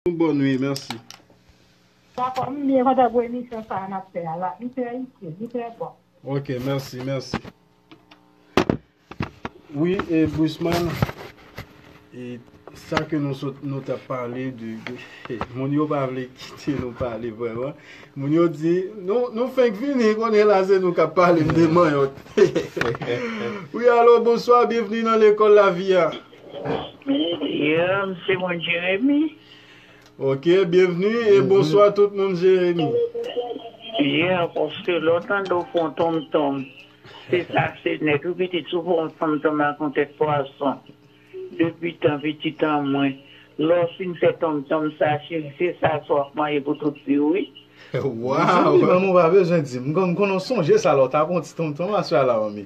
Nou bon ui merci. Dakò m byen kontan pou emisyon sa a nap fè a la li trè itil li trè bon. Ok merci merci wi e Bruseman e sa ke nou sot nou tap pale de moun yo pa vle kite nou pale vreman moun yo di nou fenk vini kounye la se nou kap pale m de manyòk wi alo bonswa byenvni nan lekòl lavi a. Yo, m se moun Jeremi. Ok, byenvni e bonswa tout moun Jeremi. Yo, paske lè w tande w fon tonmtonm, se sa se nèt wi pitit. Si w fè yon tonmtonm ak yon tèt pwason, depi tan pitit an mwen, lè w fin fè tonmtonm sa cheri, se sa sa w ap manje pou tout vi w wi. Mezanmi manmi w pa bezwen di m. M konnen w sonje sa lè w t ap fon ti tonmtonm aswè a la manmi.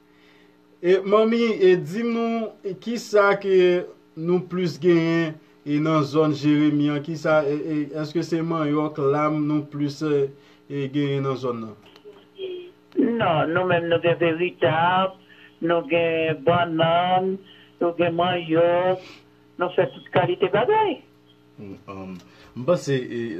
Manmi e dim nou kisa ke nou plis genyen e nan zòn jeremi an kisa eske se manyòk lam nou plis e genyen nan zòn nan. Non nou menm nou gen veritab nou gen bannann nou gen manyòk nou fè tout kalite bagay. M panse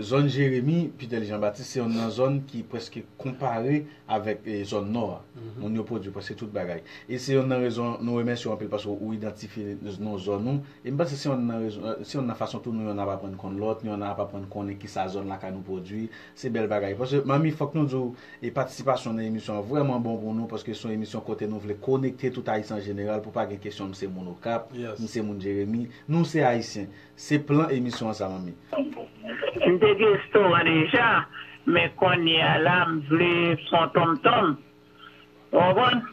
zòn Jeremi, Pitèli Janbatis se yonn nan zòn ki prèske konpare avèk zòn Nò a. Moun yo pwodui prèske tout bagay. E se yonn nan rezon nou remèsye w anpil paske ou idantifye non zòn ou. E m panse se yonn nan fason tou nou yonn ap aprann konn lòt, nou yonn ap aprann konnen kisa zòn lakay nou pwodui. Se bèl bagay. Paske manmi fòk nou di w e patisipasyon w nan emisyon an vrèman bon pou nou paske se yon emisyon kote nou vle konekte tout Ayisyen an jeneral pou pa gen kesyon m se moun Okap, m se moun Jeremi. Nou se Ayisyen. Se plan emisyon an sa manmi. M te gen restoran deja men kounye a la m vle fon tonmtonm ou konprann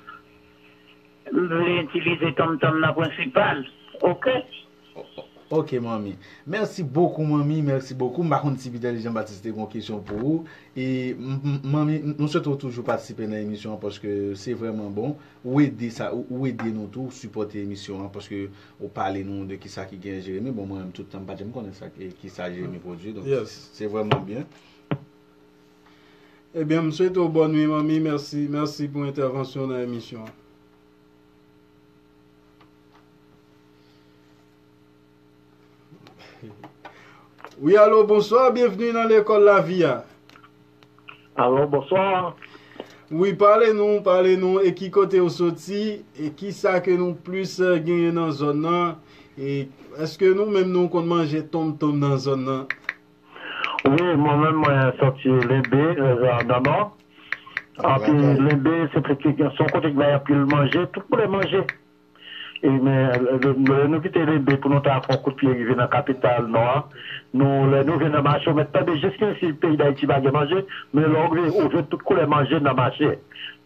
m vle itilize tonmtonm nan prensipal ok. Ok manmi. Merci beaucoup manmi merci beaucoup m pa konn si Piter Jean Baptiste te gen yon kesyon pou ou e manmi m swete w toujou patisipe nan emisyon an paske se vrèman bon ou ede sa ou ede nou tou ou sipòte emisyon an paske ou pale nou de kisa ki gen Jérémie bon mwen menm tout tan m pa janm konnen sa kisa Jérémie pwodwi donk se vrèman byen. Ebyen m swete w bòn nwi manmi merci merci pou entèvansyon w nan emisyon an. Wi alo bonswa, byenvni nan lekòl lavi a. Alo bonswa. Wi pale nou, pale nou, e ki kote ou soti, e ki sa ke nou plis genyen nan zòn nan, e eske nou menm nou konn manje tonmtonm nan zòn nan? Wi mwen menm mwen soti lembe rèzè ananò anpi lembe se yon kote ki bay anpil manje tout koulè manje e men lè nou kite lembe pou nou ta fon kout pye rive nan kapital nou an nou lè nou vin nan mache ou mèt tande jis menm si peyi dayiti pa gen manje men lè ou rive ou jwenn tout koulè manje nan mache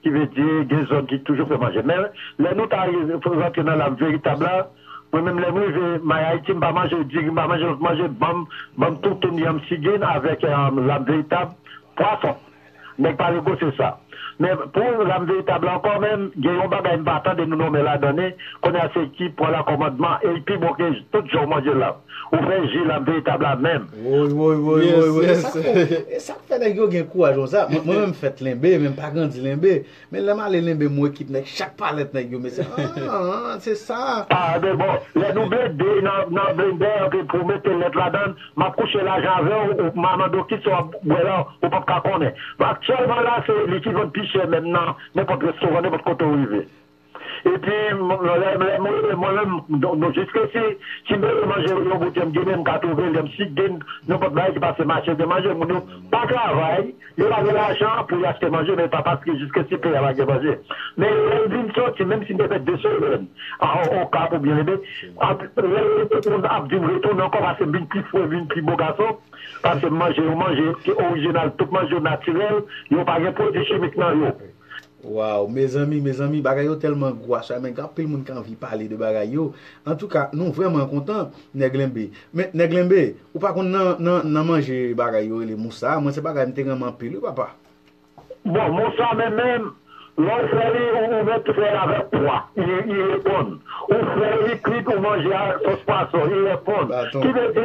ki vle di gen zòn ki toujou fè manje men lè nou ta rantre nan lam veritab la. Mwen menm lèm rive my Haiti mpa manje diri mpa manje lòt manje banm banm toutoun yanm sigin avèk lam veritab pwason nèg pa negosye sa men pou lam veritab la ankò menm gen yon bagay mpa tande nou nonmen ladan ni kounya se ki pran la kòmandman el pi bon ke tout jan ou manje lam ou fè ji lam veritab la menm. Woy woy woy woy woy esak fè nèg yo gen kouraj konsa mwen menm fèt lenbe men mpa grandi lenbe. Men lèm ale lenbe mwen kit nèg chak palèt nèg yo mesye aah se sa. Ah de bon lè nou blende nan blendè an ke pou mete lèt ladann map kouche lajan avèw ou ma mandew kisa wap bwè la ou pap ka konnen aktyèlman la se li ki vann pi chè menm nan nenpòt restoran nenpòt kote ou rive epi lèm rele mwen menm nou jis resi si m rele manje yon bout jan m ginen m ka twouve lèm si gen nenpòt bagay ki pase mache gen manje moun yo pa travay. Yo pa gen lajan pou yo achte manje men yo pa paske jiske si peyi a pa gen manje. Men lè yo vin soti, menm si yo fè 2 semèn Okap oubyen Lebe, lè tout moun ap vin retounen ankò paske m vin pi fre, m vin pi bo gason, paske m manje yon manje ki orijinal, tout manje yo natirèl, yo pa gen pwodui chimik nan yo. Waww mezanmi mezanmi bagay yo telman gou a chayman gen anpil moun ki anvi pale de bagay yo antouka nou vreman kontan nèg lenbe men nèg lenbe ou pa konn nan nan nan manje bagay yo rele moussa a mwen se bagay mte renmen anpil wi papa. Bon moussa menm menm lè ou fè li ou mèt fèl avèk pwa i reponn ou fè li kwit ou manje avèk sos pwason i reponn ki vle di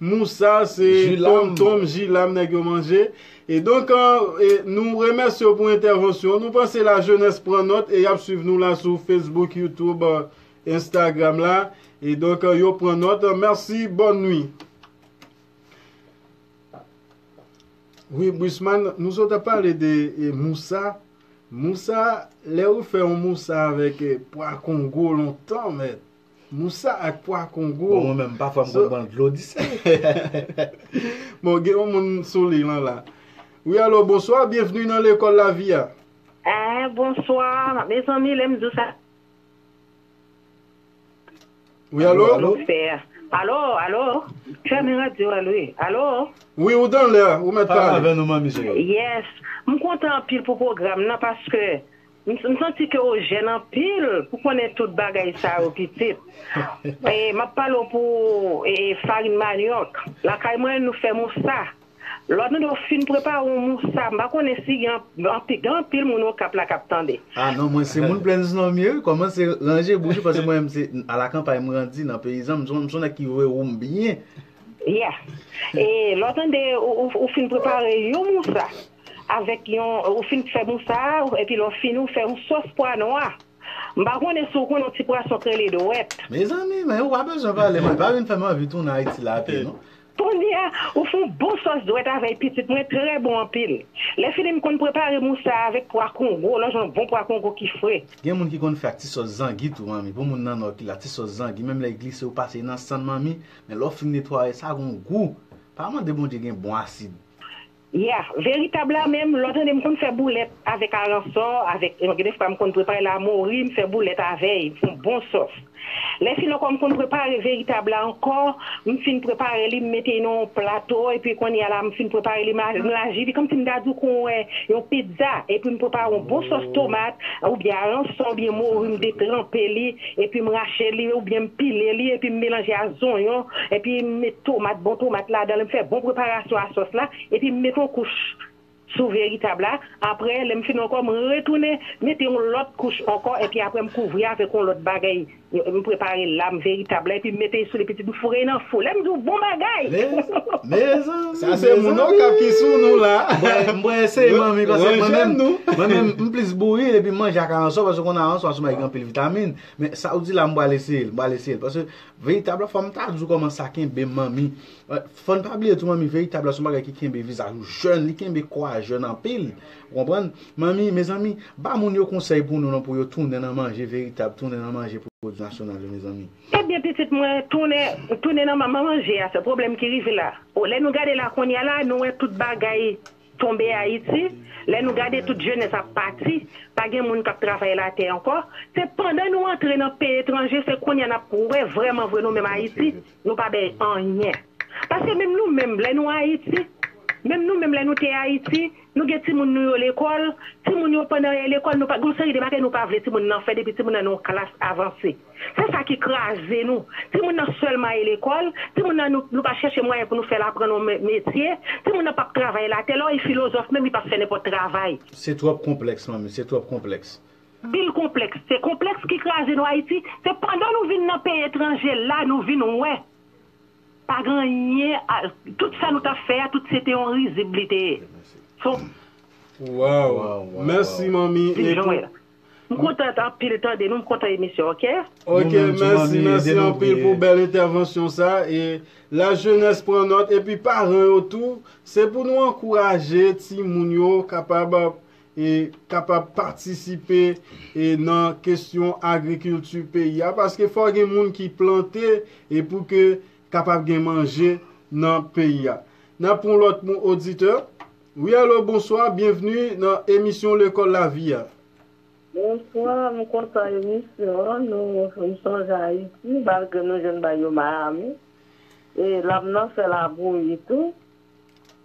Moussa se Tom Tom Jilam nèg yo manje e donk nou remèsye w pou entèvansyon w nou panse la jenès pran nòt e yap swiv nou la sou Facebook YouTube Instagram la e donk yo pran nòt mèsi bòn nwi. Wi Buisman nou sot ap pale de Moussa Moussa lè ou fè yon Moussa avèk pwa kongo lontan mèt. Moussa ak pwa kongo. Bon mwen menm pafwa m konn pran dlo di sèl. Bon gen yon moun sou liy lan la. Wi alo bonswa byenvni nan lekòl lavi a. Eeh bonswa mezanmi lèm di w sa. Wi alo. Alo fè a. Alo alo fèmen radyo a wi alo. Wi ou dan lè ou mèt pale. Pale avè nou manmi cheri. Yes m kontan anpil pou pwogram nan paske. M santi ke w jèn anpil pou konnen tout bagay sa yo pitit. M ap pale w pou farin manyòk. Lakay mwen nou fè moussa. Lò nou fin prepare yon moussa, m pa konnen si gen anpil moun Okap la k ap tande. A non, mwen se moun Plaines non m ye wi. Kòmanse ranje bouch ou paske mwen menm se alakanpay m grandi, nan peyizan. M son nèg ki vwe ou m byen. Ya. E lò w tande ou fin prepare yon moussa. avèk yon ou fin fè mousa epi lè w fini ou fè yon sòs pwa nwa m pa konnen si w konnen yon ti pwason k rele dwèt. Mezanmi men ou pa bezwen pale mwen pa vin fè m anvi tounen Ayiti la pi non. Kounye a ou fè yon bon sòs dwèt avèy pitit mwen trè bon anpil lè fini m konn prepare mousa avèk pwa kongo lè w jwenn yon bon pwa kongo ki fre. Gen moun ki konn fè ak ti sòs zangi tou manmi pou moun nan nò ki la ti sòs zangi menm lè l glise ou pase nan sann manmi men lè w fin netwaye sa gon gou pa mande Bondye gen bon asid. Yeah, veritab la menm lè w tande m konn fè boulèt avèk aransò, avèk gen de fwa m konn prepare lamori m fè boulèt avè y fon bon sòs. Lè fin ankò m konn prepare veritab la ankò, m fin prepare li m mete y nan yon plato epi kounye a la m fin prepare li m laji li kòmsi m ta di w kon wè yon pizza epi m prepare yon bon sòs tomat oubyen aransò oubyen mori m detranpe li epi m rache li oubyen m pile li epi m melanje a zonyon epi m met tomat bon tomat ladanl m fè bon preparasyon a sòs la epi m met on kouch sou veritab la aprè lèm fin ankò m retounen mete on lòt kouch ankò epi aprè m kouvri avèk on lòt bagay m prepare lam veritab la epi m mete souli pitit m foure nan fou lèm diw bon bagay Sa se moun okap ki sou nou la. M pral eseye manmi paske mwen menm mwen menm m plis bouri epi m manje ak aransò paske ou konn aransò a sou mwen ki anpil Vitamin, men sa ou di la m pral eseye l, m pral eseye l paske veritab la fò m ta di w kòman sa kenbe manmi. Fò n pa bliye tou manmi veritab la se yon bagay ki kenbe vizaj ou jèn, li kenbe kò a jèn anpil. Ou konprann? Manmi, mezanmi, ba moun yo konsèy pou nou non pou yo tounen nan manje veritab, tounen nan manje pwodui nasyonal yo mezanmi. Ebyen pitit mwen, tounen, tounen nan manje a, se pwoblèm ki rive la. Lè nou gade la kounya la, nou wè tout bagay Tonbe Ayiti, lè nou gade tout jenès ap pati, pa gen moun k ap travay latè ankò, se pandan nou antre nan peyi etranje se kounye a n ap wè vrèman vre nou menm Ayiti nou pa bay anyen. Paske menm nou menm lè nou Ayiti, menm nou menm lè nou te Ayiti, nou gen timoun nou yo lekòl, timoun yo pandan yo lekòl nou pa gen yon seri de bagay nou pa vle timoun nan fè depi timoun nan nan yon klas avanse. Se sa ki kraze nou. Timoun nan sèlman ale lekòl, timoun nan nou pa chèche mwayen pou nou fè l aprann yon metye, timoun nan p ap travay la tè, lè w ye filozòf menm li p ap fè nenpòt travay. Se twòp konplèks manmi, se twòp konplèks. Bil konplèks. Se konplèks ki kraze nou Ayiti. Se pandan nou vin nan peyi etranje la nou vin wè pa gen anyen, tout sa nou t ap fè a tout se te yon rizib li te ye. Waww mèsi manmi M kontant anpil tande nou m kontan emisyon ok. Ok mèsi mèsi anpil pou bèl entèvansyon sa e la jenès pran nòt epi paran yo tou se pou nou ankouraje timoun yo kapab e kapab patisipe e nan kesyon agrikilti peyi a paske fò gen moun ki plante e pou ke kapab gen manje nan peyi a nap pran lòt oditè. Wi alo bonswa byenvni nan emisyon lekòl lavi a. Bonswa m kontan emisyon an nou fèm sonje ayiti malgre nou jwenn bay yo miami e lam nan fè labouyi tou.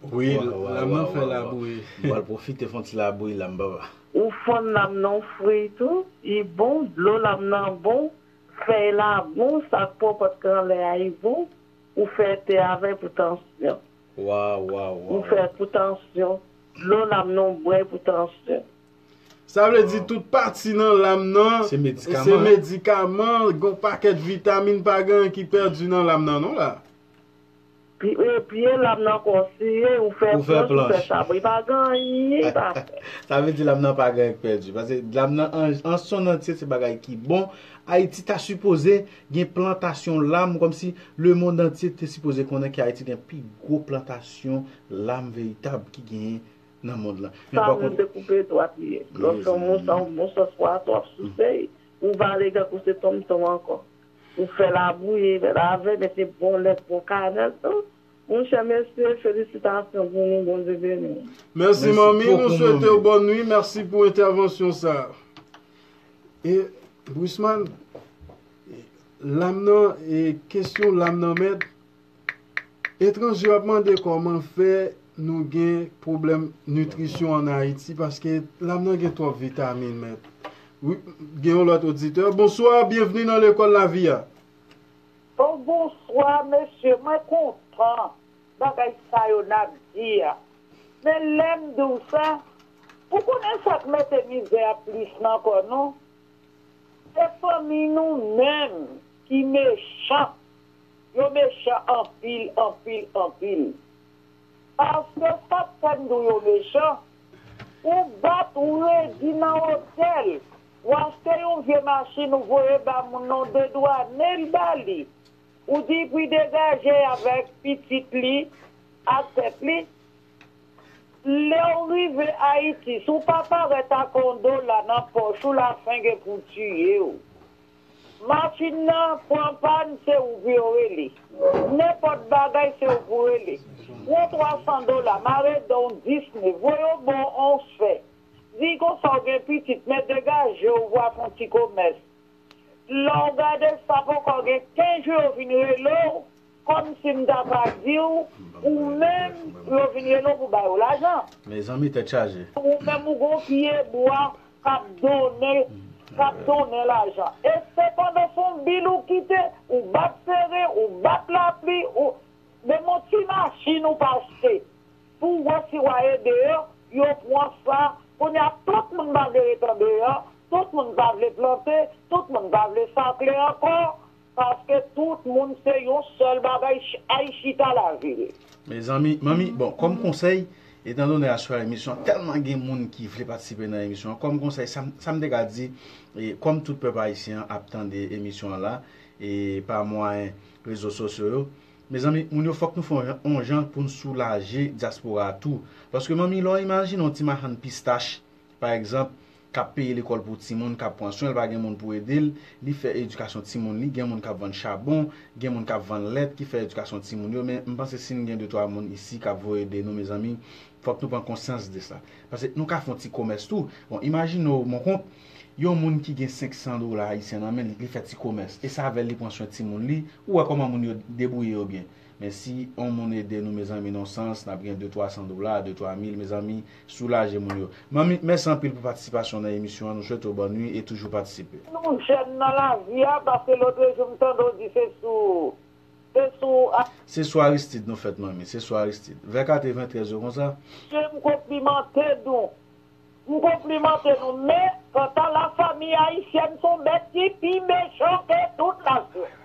Wi lam nan fè labouyi. M pral pwofite fon ti labouyi la m papa. Ou fann lam nan ou fri tou i bon dlo lam nan bon fèy la bon sak pwòpòt k anlè a i bon ou fè te avèl pou tansyon. Waw waw waw. Ou fè pou tansyon. Dlo lam nan ou bwè pou tansyon. Sa vle di tout pati nan lam nan se medikaman, gon pakèt vitamin pa gen ki pèdi nan lam nan non la. Pye lam nan konseye ou fè planch ou fè sabri pa gen anyen li pa fè. Sa vle di lam nan pa gen anyen ki pèdi. Pase lam nan an son antye se bagay ki bon. Ayiti ta sipoze Gen plantasyon lam kòmsi lemond antye te sipoze konnen ke Ayiti gen pi gwo plantasyon lam veritab ki genyen nan mond lan. Men pa kont. Sa rele koupe dwat li ye. Lè w se yon mous an bon sans pwason w ap souse li, ou vale tankou se tonmtonm ankò. Ou fè labou e lave, mete bon lèt, bon kanèl tou. Monchè mesye, felisitasyon pou nou, Bondye beni nou. Mèsi manmi, nou swete w bòn nwi, mèsi pou entèvansyon sa. E Bruseman lam nan e kesyon lam nan mèd etranje yo ap mande kòman fè nou gen pwoblèm nitrisyon an Ayiti paske lam nan gen twòp vitamin mèd wi gen yon lòt oditè bonswa byenvni nan lekòl lavi a. Oh bonswa mesye mwen kontan bagay sa yo nap di a men lèm diw sa Pou konnen sak mete mizè a plis nan kò nou se fanmi nou menm ki mechan yo mechan anpil anpil anpil paske sak fè m di w yo mechan ou bat ou redi nan hotel ou achte yon vye machin ou voye ba moun nan ou dedwane l ba li ou di pou y degaje avèk pitit li ak tèt li. Lew rive ayiti si w pa parèt ak yon dola nan pòch ou la fen gen pou tiyew. Machin nan pran pàn se ou pou yo rele. Nenpòt bagay se ou pou rele. Pran 300 dola mare dan w 10 ne voye w bò on fè. Di konsa w gen pitit men degaje w vwa fon ti komès. Lè w gade sa poko gen 15 jou yo vin rele w. Kòm si m ta va di w, ou menm yo vin rele w pou bay ou lajan. Mezanmi tèt chaje. Ou menm ou gon pye bwa kap donnen kap donnen lajan. E sepandan son bil ou kite, ou bat sere, ou bat lapli, ou menm yon ti machin ou pa achte pou w wè si wa ye deyò, yo pwan sa. Kounye a tout moun pa vle ret andeyò, tout moun pa vle plante, tout moun pa vle sakle ankò. Paske tout moun se yon sèl bagay ay chita lavil. Mezanmi manmi bon kòm konsèy etan donè aswè emisyon an tèlman gen moun ki vle patisipe nan emisyon an kòm konsèy sa m te ka di e kòm tout pèp ayisyen an ap tande emisyon an la e pa mwayen rezo sosyo yo mezanmi moun yo fòk nou fè yon jan pou n soulaje dyaspora a tou paske manmi lè w imajine yon ti machann pistach pa egzanp kap peye lekòl pou timoun, kap pran swen l, pa gen moun pou ede l, li fè edikasyon timoun li, gen moun kap vann chabon, gen moun kap vann lèt ki fè edikasyon timoun yo, men m panse si n gen de twa moun isi kap voye ede nou mezanmi fòk nou pran konsyans de sa pase nou ka fon ti komès tou, bon imajine w monkont yon moun ki gen 500 dola ayisyen nan men li, li fè ti komès e se avè l li pran swen timoun li, ou wè kòman moun yo debwouye yo byen, men si on moun ede nou mezanmi non sans nap gen de twa san dola, de twa mil mezanmi. Soulaje moun yo. Manmi, mèsi anpil pou patisipasyon w nan emisyon an, nou swete w bòn nwi e toujou patisipe. Nou jèn nan lavi a paske lotrejou m tande w di se sou se sou. Se sou Aristide nou fèt manmi, se sou Aristide. Vè 80 trè zo konsa. Mesye m konplimante nou. M konplimante nou men kanta la famille haïtienne son bèt ki pi mechan ke tout nasyon.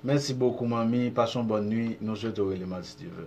Mèsi bokou manmi, pase yon bòn nwi, nou swete w rele m Aristide.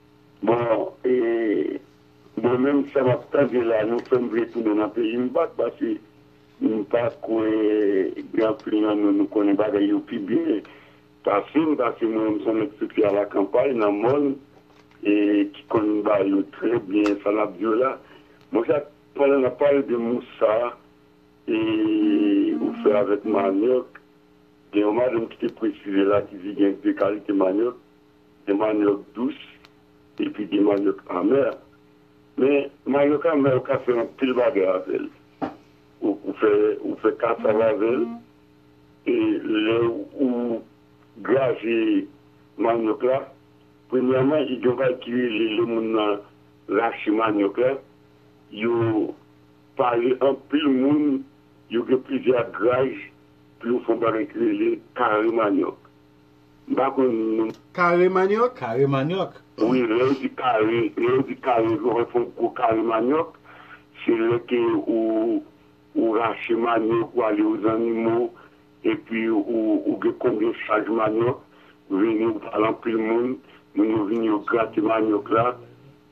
Bon e mwen menm sa map tande la nou fèm vle tounen nan peyim back pase m pa kwè gen anpil nan nou nou konnen bagay yo pi byen pasem pase mwen menm son nèg soti a la kanpay nan mòn e ki konn ba yo trè byen sa nap di yo la bon sa pandan nap pale de moussa e ou fè avèk manioc gen yon madanm ki te presize la ki di gen 2 kalite manioc. Gen manyòk dous epi gen manyòk amè. Men manyòk amè ou ka fè anpil bagay avè l. Ou fè kasav avè l. E lè ou graje manyòk la, premyèman gen yon bagay ki rele lè moun nan rache manyòk la, yo pale anpil moun yo gen plizyè graj pou yo fè yon bagay ki rele kare manyòk. M pa konn non. Kare manyòk? Kare manyòk? Wi, lè yo di kare, lè yo di kare yo wè fon gwo kare manyòk, se lè ke ou ou rache manyòk ou ale ozannimo epi ou ou gen konbyen chaj manyòk, ou vini ou pale anpil moun, moun yo vini yo grate manyòk la,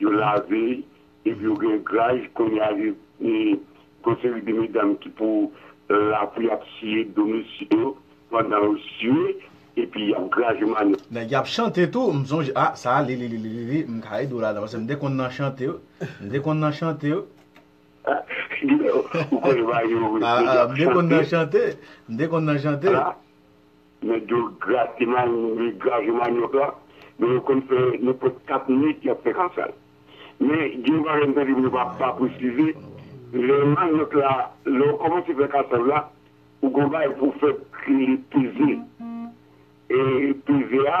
yo lave. Epi yo gen graj kounye a gen yon seri de medam ki pou la pou yap siye do mesye yo pandan yo sue epi yap graj manèt. Nèg yap chante tou m sonje ah sa a lililililili m ka ede w ladan paske m te konn nan chante yo m te konn nan chante yo Gilè ou konn va yo wi nèg yap chante. M te konn nan chante m te konn nan chante. Nèg yo grate manyòk, grave manyòk la, men yo konn fè nenpòt 4 nuit y ap fè kasal. Men gen yon bagay m tande men yo pa pa presize, lè manyòk la, lè ou kòmanse fè kasal la, ou gen yon bagay pou w fè ki rele peze. E peze a.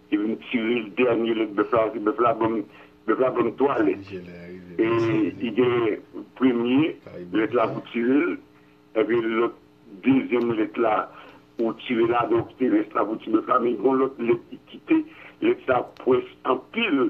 Yo vin tire dènye lèt bèf la, paske bèf la ban m, bèf la ban m 3 lèt. E li gen premye lèt la pou tire l, epi lòt dezyèm lèt la pou tire la, donk se rès la pou ti bèf la. Men gen yon lòt lèt ki kite, lèt sa pwès anpil.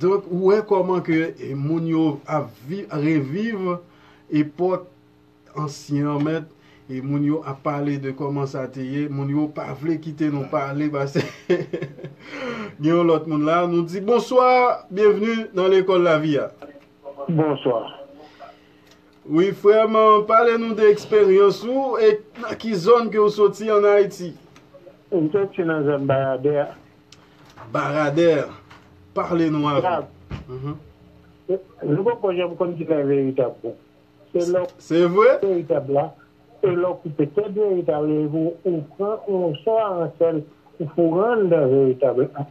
Donk ou wè kòman ke moun yo ap reviv epòk ansyen an mèt, e moun yo ap pale de kòman sa te ye, moun yo pa vle kite nou pale pase gen yon lòt moun la, nou di bonswa, byenvni nan lekòl lavi a. Bonswa. Wi frè m, pale nou de eksperyans ou e nan ki zòn ke ou soti an Ayiti. M soti nan zòn Bayadè a. Baradèr, pale nou avè. Nou poko janm konn kilè veritab bon. Se lè w koupe tèt veritab la, se lè w koupe tèt veritab la epi ou pran moso a an sèl ou foure an nan veritab la.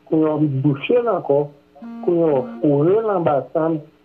Kounye a w bouche l ankò, kounye a w foure l anba sann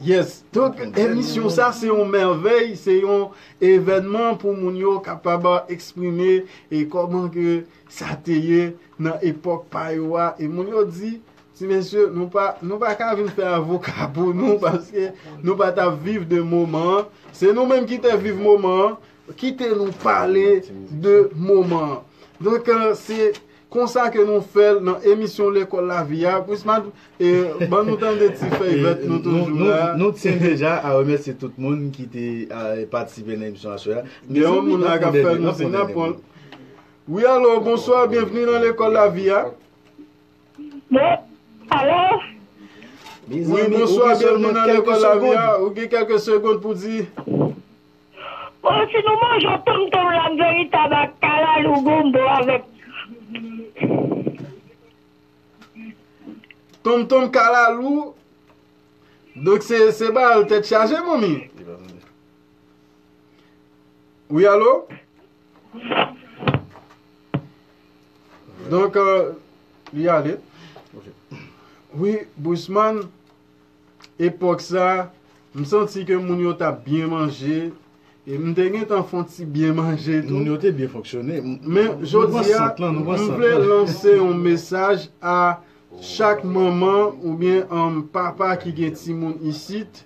Yes, donk emisyon sa se yon mèvèy, se yon evènman pou moun yo kapab eksprime e kòman ke sa te ye nan epòk pa yo a. E moun yo di, ti mesye, nou pa, nou pa ka vin fè avoka pou nou paske nou pa ta viv de moman an. Se nou menm ki te viv moman an, kite nou pale de moman an. Donk se Konsa ke nou fèl nan emisyon lekòl lavi a Prince Madr e ban nou tande ti fèy vèt nou toujou la. Nou tyen deja a remèsye tout moun ki te patisipe nan emisyon aswè a. Gen yon moun la kap fè nou siy nap pranl. Wi alo bonswa byenvni nan lekòl lavi a. Alo. Wi bonswa byenvni nan lekòl lavi a ou gen kèlke segond pou di. Bon si nou manjew tom tom lam veritab ak kalalou gombo avek. Tom tom kalalou Donk se bal tet chaje manmi Wi alo Donk euh, li ale Wi bousman Epòk sa, m santi ke moun yo t ap byen manje, e m te gentan fè yon ti byen manje tou. Moun yo te byen fonksyone. Men, jodi a, m vle lanse yon mesaj a chak manman oubyen papa ki gen timoun isit,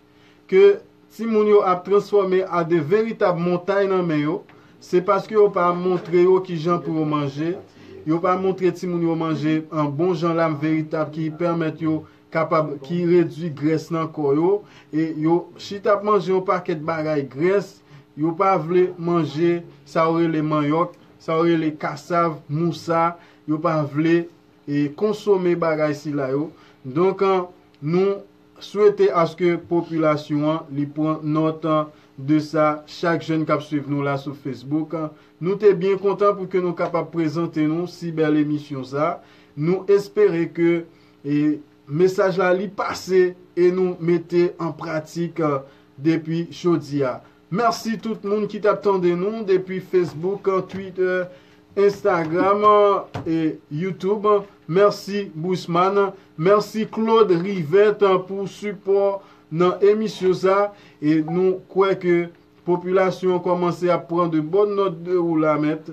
ke timoun yo ap transfòme a de veritab montay nan men yo, se paske yo pa montre yo ki jan pou yo manje, yo pa montre timoun yo manje bon jan la, veritab ki pèmèt yo kapab ki redwi grès nan kò yo e yo si tap manje yon pakèt bagay grès yo pa vle manje sa yo rele manyòk sa yo rele kasav mousa yo pa vle e konsome bagay sila yo donk nou swete aske popilasyon an li pran nòt de sa chak jèn kap swiv nou la sou facebook nou te byen kontan pou ke nou kapab prezante nou si bèl emisyon sa nou espere ke E mesaj la li pase e nou mete an pratik depi jodi a. Merci tout moun ki tap tande nou depi Facebook, Twitter, Instagram e YouTube. Merci Bruceman. Merci Claude Rivet pou sipò nan emisyon sa. E nou kwè ke popilasyon kòmanse ap pran de bòn nòt de ou la mèt.